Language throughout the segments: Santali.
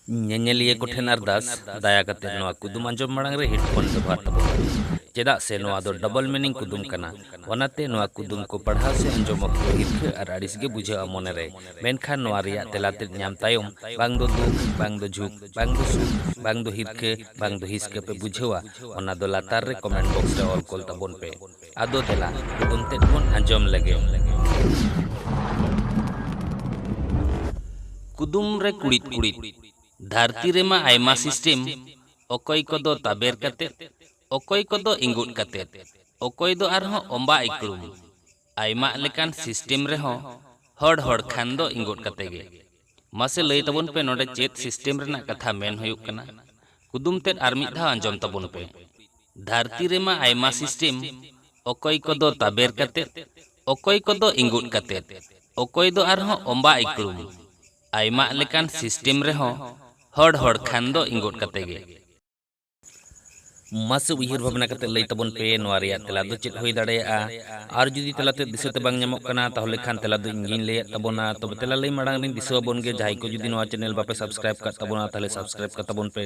ᱧᱮᱧᱮᱞᱤᱭᱟᱹ ᱠᱚᱴᱷᱮᱱ ᱟᱨᱫᱟᱥ ᱫᱟᱭᱟ ᱠᱟᱛᱮ ᱱᱚᱣᱟ ᱠᱩᱫᱩᱢ ᱟᱸᱡᱚᱢ ᱢᱟᱲᱟᱝ ᱨᱮ ᱦᱮᱰᱯᱷᱳᱱ ᱵᱮᱵᱚᱦᱟᱨ ᱛᱟᱵᱚᱱ ᱯᱮ ᱪᱮᱫᱟᱜ ᱥᱮ ᱱᱚᱣᱟ ᱫᱚ ᱰᱚᱵᱚᱞ ᱢᱤᱱᱤᱝ ᱠᱩᱫᱩᱢ ᱠᱟᱱᱟ ᱚᱱᱟᱛᱮ ᱱᱚᱣᱟ ᱠᱩᱫᱩᱢ ᱠᱚ ᱯᱟᱲᱦᱟᱣ ᱥᱮ ᱟᱸᱡᱚᱢ ᱚᱠᱛᱚ ᱦᱤᱨᱠᱷᱟᱹ ᱟᱨ ᱟᱹᱲᱤᱥ ᱜᱮ ᱵᱩᱡᱷᱟᱹᱜᱼᱟ ᱢᱚᱱᱮ ᱨᱮ ᱢᱮᱱᱠᱷᱟᱱ ᱱᱚᱣᱟ ᱨᱮᱭᱟᱜ ᱛᱮᱞᱟ ᱛᱮᱫ ᱧᱟᱢ ᱛᱟᱭᱚᱢ ᱵᱟᱝ ᱫᱚ ᱫᱩᱠ ᱵᱟᱝ ᱫᱚ ᱡᱷᱩᱠ ᱵᱟᱝ ᱫᱚ ᱥᱩᱠ ᱵᱟᱝ ᱫᱚ ᱦᱤᱨᱠᱷᱟᱹ ᱵᱟᱝ ᱫᱚ ᱦᱤᱥᱠᱟᱹ ᱯᱮ ᱵᱩᱡᱷᱟᱹᱣᱟ ᱚᱱᱟ ᱫᱚ ᱞᱟᱛᱟᱨ ᱨᱮ ᱠᱚᱢᱮᱱᱴ ᱵᱚᱠᱥ ᱨᱮ ᱚᱞ ᱠᱚᱞ ᱛᱟᱵᱚᱱ ᱯᱮ ᱟᱫᱚ ᱫᱮᱞᱟ ᱠᱩᱫᱩᱢ ᱛᱮᱫ ᱵᱚᱱ ᱟᱸᱡᱚᱢ ᱞᱮᱜᱮ᱾ ᱠᱩᱫᱩᱢ ᱨᱮ ᱠᱩᱲᱤᱫ ᱠᱩᱲᱤᱫ᱾ ᱫᱷᱟᱹᱨᱛᱤ ᱨᱮᱢᱟ ᱟᱭᱢᱟ ᱥᱤᱥᱴᱮᱢ, ᱚᱠᱚᱭ ᱠᱚᱫᱚ ᱛᱟᱵᱮᱨ ᱠᱟᱛᱮ, ᱚᱠᱚᱭ ᱠᱚᱫᱚ ᱤᱸᱜᱩᱫ ᱠᱟᱛᱮ, ᱚᱠᱚᱭ ᱫᱚ ᱟᱨᱦᱚᱸ ᱚᱸᱵᱟᱜ ᱤᱠᱲᱩᱢ᱾ ᱟᱭᱢᱟᱜ ᱞᱮᱠᱟᱱ ᱥᱤᱥᱴᱮᱢ ᱨᱮᱦᱚᱸ ᱦᱚᱲ ᱦᱚᱲ ᱠᱷᱟᱱ ᱫᱚ ᱤᱸᱜᱩᱫ ᱠᱟᱛᱮ ᱜᱮ᱾ ᱢᱟᱥᱮ ᱞᱟᱹᱭ ᱛᱟᱵᱚᱱ ᱯᱮ ᱱᱚᱰᱮ ᱪᱮᱫ ᱥᱤᱥᱴᱮᱢ ᱨᱮᱱᱟᱜ ᱠᱟᱛᱷᱟ ᱢᱮᱱ ᱦᱩᱭᱩᱜ ᱠᱟᱱᱟ ᱠᱩᱫᱩᱢ ᱛᱮᱫ ᱟᱨ ᱢᱤᱫ ᱫᱷᱟᱣ ᱟᱸᱡᱚᱢ ᱛᱟᱵᱚᱱ ᱯᱮ ᱫᱷᱟᱹᱨᱛᱤ ᱨᱮᱢᱟ ᱟᱭᱢᱟ ᱥᱤᱥᱴᱮᱢ ᱚᱠᱚᱭ ᱠᱚᱫᱚ ᱛᱟᱵᱮᱨ ᱠᱟᱛᱮ ᱚᱠᱚᱭ ᱠᱚᱫᱚ ᱤᱸᱜᱩᱫ ᱠᱟᱛᱮ ᱚᱠᱚᱭ ᱫᱚ ᱟᱨᱦᱚᱸ ᱚᱸᱵᱟ ᱤᱠᱲᱩᱢ ᱟᱭᱢᱟᱜ ᱞᱮᱠᱟᱱ ᱥᱤᱥᱴᱮᱢ ᱨᱮᱦᱚᱸ ᱦᱚᱲ ᱦᱚᱲ ᱠᱷᱟᱱ ᱫᱚ ᱤᱸᱜᱩᱫ ᱠᱟᱛᱮ ᱜᱮ᱾ ᱢᱟᱥᱮ ᱩᱭᱦᱟᱹᱨ ᱵᱷᱟᱵᱽᱱᱟ ᱠᱟᱛᱮ ᱞᱟᱹᱭ ᱛᱟᱵᱚᱱ ᱯᱮ ᱱᱚᱣᱟ ᱨᱮᱭᱟᱜ ᱛᱮᱞᱟ ᱫᱚ ᱪᱮᱫ ᱦᱩᱭ ᱫᱟᱲᱮᱭᱟᱜᱼᱟ ᱟᱨ ᱡᱩᱫᱤ ᱛᱮᱞᱟ ᱛᱮ ᱫᱤᱥᱟᱹ ᱛᱮ ᱵᱟᱝ ᱧᱟᱢᱚᱜ ᱠᱟᱱᱟ ᱛᱟᱦᱚᱞᱮ ᱠᱷᱟᱱ ᱛᱮᱞᱟ ᱫᱚ ᱤᱧ ᱜᱤᱧ ᱞᱟᱹᱭᱟᱫ ᱛᱟᱵᱚᱱᱟ ᱛᱚᱵᱮ ᱛᱮᱞᱟ ᱞᱟᱹᱭ ᱢᱟᱲᱟᱝ ᱨᱤᱧ ᱫᱤᱥᱟᱹ ᱟᱵᱚᱱ ᱜᱮ ᱡᱟᱦᱟᱸᱭ ᱠᱚ ᱡᱩᱫᱤ ᱱᱚᱣᱟ ᱪᱮᱱᱮᱞ ᱵᱟᱯᱮ ᱥᱟᱵᱥᱠᱨᱟᱭᱤᱵ ᱠᱟᱫ ᱛᱟᱵᱚᱱᱟ ᱛᱟᱦᱚᱞᱮ ᱥᱟᱵᱥᱠᱨᱟᱭᱤᱵ ᱠᱟᱜ ᱛᱟᱵᱚᱱ ᱯᱮ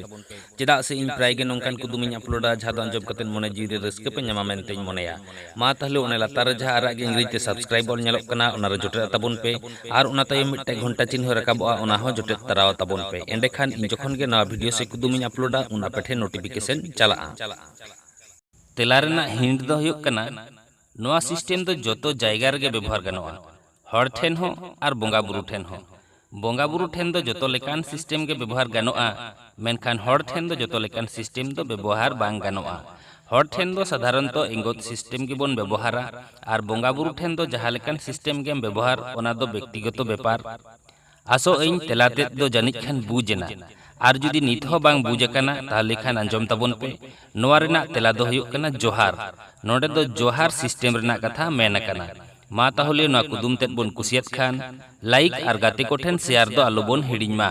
ᱪᱮᱫᱟᱜ ᱥᱮ ᱤᱧ ᱯᱨᱟᱭ ᱜᱮ ᱱᱚᱝᱠᱟᱱ ᱠᱩᱫᱩᱢᱤᱧ ᱟᱯᱞᱳᱰᱟ ᱡᱟᱦᱟᱸ ᱫᱚ ᱟᱸᱡᱚᱢ ᱠᱟᱛᱮ ᱢᱚᱱᱮ ᱡᱤᱣᱤ ᱨᱮ ᱨᱟᱹᱥᱠᱟᱹ ᱯᱮ ᱧᱟᱢᱟ ᱢᱮᱱᱛᱮᱧ ᱢᱚᱱᱮᱭᱟ ᱢᱟ ᱛᱟᱦᱞᱮ ᱚᱱᱮ ᱞᱟᱛᱟᱨ ᱨᱮ ᱡᱟᱦᱟᱸ ᱟᱨᱟᱜ ᱜᱮ ᱤᱝᱨᱮᱡᱤ ᱛᱮ ᱥᱟᱵᱥᱠᱨᱟᱭᱤᱵ ᱚᱞ ᱧᱮᱞᱚᱜ ᱠᱟᱱᱟ ᱚᱱᱟ ᱨᱮ ᱡᱚᱴᱮᱫ ᱟᱛᱟᱵᱚᱱ ᱯᱮ ᱟᱨ ᱚᱱᱟ ᱛᱟᱭᱚᱢ ᱢᱤᱫᱴᱟᱝ ᱜᱷᱚᱱᱴᱟ ᱪᱤᱱᱦᱟᱹ ᱨᱟᱠᱟᱵᱚᱜᱼᱟ ᱚᱱᱟ ᱦᱚᱸ ᱡᱚᱴᱮᱫ ᱛᱟᱨᱟᱣ ᱟᱛᱟᱵᱚᱱ ᱯᱮ ᱮᱸᱰᱮᱠᱷᱟᱱ ᱤᱧ ᱡᱚᱠᱷᱚᱱ ᱜᱮ ᱱᱟᱣᱟ ᱵᱷᱤᱰᱤᱭᱳ ᱥᱮ ᱠᱩᱫᱩᱢ ᱤᱧ ᱟᱯᱞᱳᱰᱟ ᱩᱱ ᱟᱯᱮ ᱴᱷᱮᱱ ᱱᱳᱴᱤᱯᱷᱤᱠᱮᱥᱚᱱ ᱪᱟᱞᱟᱜᱼᱟ᱾ ᱛᱮᱞᱟ ᱨᱮᱱᱟᱜ ᱦᱤᱱᱴ ᱫᱚ ᱦᱩᱭᱩᱜ ᱠᱟᱱᱟ ᱱᱚᱣᱟ ᱥᱤᱥᱴᱮᱢ ᱫᱚ ᱡᱚᱛᱚ ᱡᱟᱭᱜᱟ ᱨᱮᱜᱮ ᱵᱮᱵᱚᱦᱟᱨ ᱜᱟᱱᱚᱜᱼᱟ᱾ ᱦᱚᱲ ᱴᱷᱮᱱ ᱦᱚᱸ ᱟᱨ ᱵᱚᱸᱜᱟ ᱵᱩᱨᱩ ᱴᱷᱮᱱ ᱦᱚᱸ᱾ ᱵᱚᱸᱜᱟ ᱵᱩᱨᱩ ᱴᱷᱮᱱ ᱫᱚ ᱡᱚᱛᱚ ᱞᱮᱠᱟᱱ ᱥᱤᱥᱴᱮᱢ ᱜᱮ ᱵᱮᱵᱚᱦᱟᱨ ᱜᱟᱱᱚᱜᱼᱟ, ᱢᱮᱱᱠᱷᱟᱱ ᱦᱚᱲ ᱴᱷᱮᱱ ᱫᱚ ᱡᱚᱛᱚ ᱞᱮᱠᱟᱱ ᱥᱤᱥᱴᱮᱢ ᱫᱚ ᱵᱮᱵᱚᱦᱟᱨ ᱵᱟᱝ ᱜᱟᱱᱚᱜᱼᱟ᱾ ᱦᱚᱲ ᱴᱷᱮᱱ ᱫᱚ ᱥᱟᱫᱷᱟᱨᱚᱱᱛᱚ ᱮᱝᱜᱚᱛ ᱥᱤᱥᱴᱮᱢ ᱜᱮ ᱵᱚᱱ ᱵᱮᱵᱚᱦᱟᱨᱟ ᱟᱨ ᱵᱚᱸᱜᱟ ᱵᱩᱨᱩ ᱴᱷᱮᱱ ᱫᱚ ᱡᱟᱦᱟᱸ ᱞᱮᱠᱟᱱ ᱥᱤᱥᱴᱮᱢ ᱜᱮᱢ ᱵᱮᱵᱚᱦᱟᱨ ᱚᱱᱟ ᱫᱚ ᱵᱮᱠᱛᱤᱜᱚᱛᱚ ᱵᱮᱯᱟᱨ᱾ ᱟᱥᱚᱜ ᱟᱹᱧ ᱛᱮᱞᱟ ᱛᱮᱫ ᱫᱚ ᱡᱟᱹᱱᱤᱡ ᱠᱷᱟᱱ ᱵᱩᱡᱽ ᱮᱱᱟ ᱟᱨ ᱡᱩᱫᱤ ᱱᱤᱛ ᱦᱚᱸ ᱵᱟᱝ ᱵᱩᱡᱽ ᱟᱠᱟᱱᱟ ᱛᱟᱦᱞᱮ ᱠᱷᱟᱱ ᱟᱸᱡᱚᱢ ᱛᱟᱵᱚᱱ ᱯᱮ ᱱᱚᱣᱟ ᱨᱮᱱᱟᱜ ᱛᱮᱞᱟ ᱫᱚ ᱦᱩᱭᱩᱜ ᱠᱟᱱᱟ ᱡᱚᱦᱟᱨ ᱱᱚᱰᱮ ᱫᱚ ᱡᱚᱦᱟᱨ ᱥᱤᱥᱴᱮᱢ ᱨᱮᱱᱟᱜ ᱠᱟᱛᱷᱟ ᱢᱮᱱ ᱟᱠᱟᱱᱟ ᱢᱟ ᱛᱟᱦᱚᱞᱮ ᱱᱚᱣᱟ ᱠᱩᱫᱩᱢ ᱛᱮᱫ ᱵᱚᱱ ᱠᱩᱥᱤᱭᱟᱫ ᱠᱷᱟᱱ ᱞᱟᱭᱤᱠ ᱟᱨ ᱜᱟᱛᱮ ᱠᱚ ᱴᱷᱮᱱ ᱥᱮᱭᱟᱨ ᱫᱚ ᱟᱞᱚ ᱵᱚᱱ ᱦᱤᱲᱤᱧ ᱢᱟ